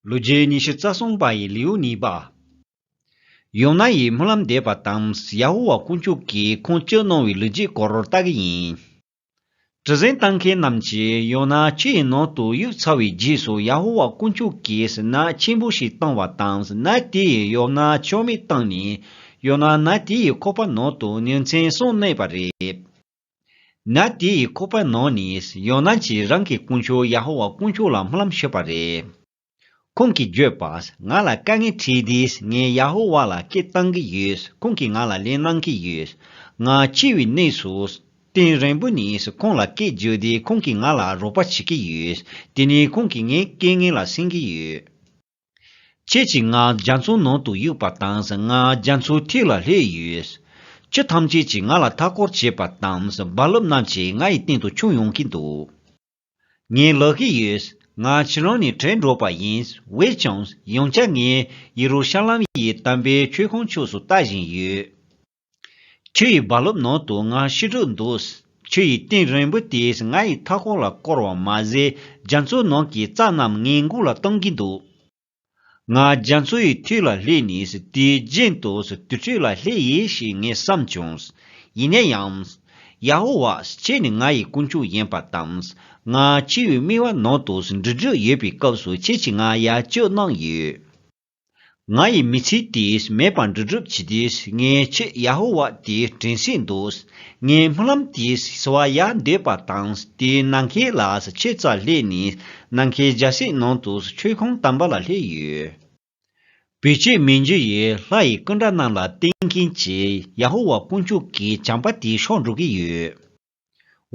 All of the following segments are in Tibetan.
ལོ་རྒྱུས་ཉི་ཤུ་རྩ་གསུམ་པ་ཡི་ལེའུ་གཉིས་པ། ཡོ་ནཱ་ཡིས་སྨོན་ལམ་འདེབས་པ་དང་ཡ་ཧོ་ཝཱ་དཀོན་མཆོག་གིས་ཁོང་སྐྱོད་གནང་བའི་ལོ་རྒྱུས་སྐོར་བལྟ་གི་ཡིན། གྲུ་གཟེངས་བཏང་མཁན་རྣམས་ཀྱིས་ཡོ་ནཱ་ཆུ་ཡི་ནང་དུ་གཡུག་ཚར་བའི་རྗེས་སུ་ཡ་ཧོ་ཝཱ་དཀོན་མཆོག་གིས་སྣ་ཆེན་པོ་ཞིག་བཏང་བ་དང་སྣ་དེ་ཡིས་ཡོ་ནཱ་ཕྱོགས་མེད་བཏང་ནས་ཡོ་ནཱ་སྣ་དེ་ཡི་ཁོག་པ་ནང་དུ་ཉིན་མཚན་སོང་གནས་པ་རེད། ན་དེ་ཡི་ཁོ་པའི་ནང་ནས་ཡོ་ནཱན་གྱིས་རང་གི་དཀོན་མཆོག་ཡ་ཧོ་ཝཱ་དཀོན་མཆོག་ལ་སྨོན་ལམ་ཞུས་པ་རེད། ཁོང་གིས་བརྗོད་པ། ང་ལ་དཀའ་ངལ་འཕྲད་དུས་ངས་ཡ་ཧོ་ཝཱ་ལ་སྐད་བཏང་གི་ཡོད། ཁོང་གིས་ང་ལ་ལན་གནང་གི་ཡོད། ང་འཆི་བའི་གནས་སུ། སྟེང་རིང་པོ་ནས་ཁོང་ལ་སྐད་བརྗོད་དུས་ཁོང་གིས་ང་ལ་རོགས་པ་བྱེད་ཀྱི་ཡོད། དེ་ནས་ཁོང་གིས་ངའི་དཀལ་ངལ་ལ་སེམས་ཀྱི་ཡོད། ཁྱེད་ཀྱི་ངག་རྒྱ་མཚོའི་ནང་དུ་གཡུགས་པ་དང་ངག་རྒྱ་མཚོའི་ཐིག་ལ་ལྷས་ཡོད། ཁྱི་ཐམས་ཅད་ཀྱིས་ང་ལ་མཐའ་སྐོར་བྱེད་པ་དང་རྦ་རླབས་རྣམས་ཀྱིས་ང་ཡི་སྟེང་དུ་མཆོངས་ཡོང་གིན་འདུག། ངས་ལོག་གི་ཡོད། ང་ཁྱི་རང་ནས་དྲན་འགྲོ་པ་ཡིན། འོས་ཀྱང། ཡང་བསྐྱར་ངས་ཡེ་རུ་ཤ་ལམ་ཡི་དམ་པའི་མཆོད་ཁང་ཕྱོགས་སུ་ལྟ་བཞིན་ཡོད། ཁྱི་ཡི་རྦ་རླབས་ནང་དུ་ང་ཤི་དྲུག་འདུག། ཁྱི་ཡི་སྟེང་རིང་པོ་དེས་ང་ཡི་མཐའ་སྐོར་ལ་བསྐོར་བ་མ་ཟད་རྒྱ་མཚོའི་ནང་གི་རྩྭ་རྣམས་ངའི་མགུལ་ལ་གཏོང་གིན་འདུག། ང་རྒྱ་མཚོ་ཡི་ཐུལ་ལ་སླེབས་ནས་དེའི་རྒྱན་དུ་དུར་ཁྲོད་ལ་སླེབས་ཡེ་ཞེས་ངས་བསམས་བྱུང། ཡིན་ན་ཡང། ཡ་ཧོ་ཝཱ་ཁྱེད་ནི་ང་ཡི་དཀོན་མཆོག་ཡིན་པ་དང། ང་ཁྱི་ཡི་རྨི་བ་ནང་དུ་འབྲུག་འབྲུག་ཡོད་པའི་སྐབས་སུ་ཁྱེད་ཀྱིས་ང་གཡར་སྐྱོད་གནང་ཡོད། ང་ཡི་མི་ཚེ་དེས་མེད་པར་འབྲི་སྒྲུབ་བྱས་དུས་ངའི་ཆེད་ཡ་ཧོ་ཝཱ་དེ་དྲན་སྲིད་འདུག་ངའི་སྨོན་ལམ་དེས་སྲི་བ་ཡལ་འདོད་པ་དང་དེས་ནམ་མཁའི་ལ་ཆས་རྩ་སླེ་ནས་ནམ་མཁའི་རྒྱལ་སྲིད་ནང་དུ་མཆོད་ཁང་དམ་པ་ལ་སླེབས་ཡོད། བོད་ཆས་མི་འཇུ་ཡི་ལྷ་ཡི་སྐུ་འདྲ་རྣམས་ལ་བསྟེན་མཁན་གྱི་ཡ་ཧོ་ཝཱ་དཀོན་མཆོག་གི་བྱམས་པ་དེ་ཤོར་འགྲོ་གི་ཡོད།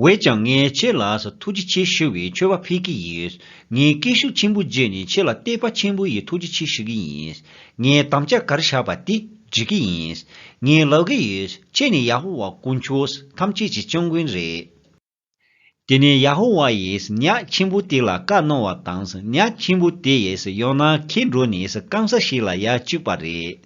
བས་ཀྱང་ངས་ཁྱེད་ལགས་ཐུགས་རྗེ་ཆེ་ཞུ་བའི་མཆོད་པ་ཕུལ་གྱི་ཡོད། ངས་སྐད་ཤུགས་ཆེན་པོ་བརྗེད་ནས་ཁྱེད་ལ་བསྟོད་པ་ཆེན་པོ་ཡི་ཐུགས་རྗེ་ཆེ་ཞུ་གི་ཡིན། ངས་དམ་བཅའ་གར་བཞག་པ་དེ་འགྲིག་གི་ཡིན། ངས་ལབ་གི་ཡོད། ཁྱེད་ནི་ཡ་ཧོ་ཝཱ་དཀོན་མཆོག་ཐམས་ཅད་ཀྱི་སྐྱབས་མགོན་རེད། དེ་ནས་ཡ་ཧོ་ཝཱ་ཡིས་ཉག་ཆེན་པོ་དེ་ལ་བཀའ་གནང་བ་དང་ཉག་ཆེན་པོ་དེས་ཡོང་ན་ཁྱེད་འགྲོ་ནས་སྐམ་ས་ཞིག་ལ་ཡར་བཅུག་པ་རེད།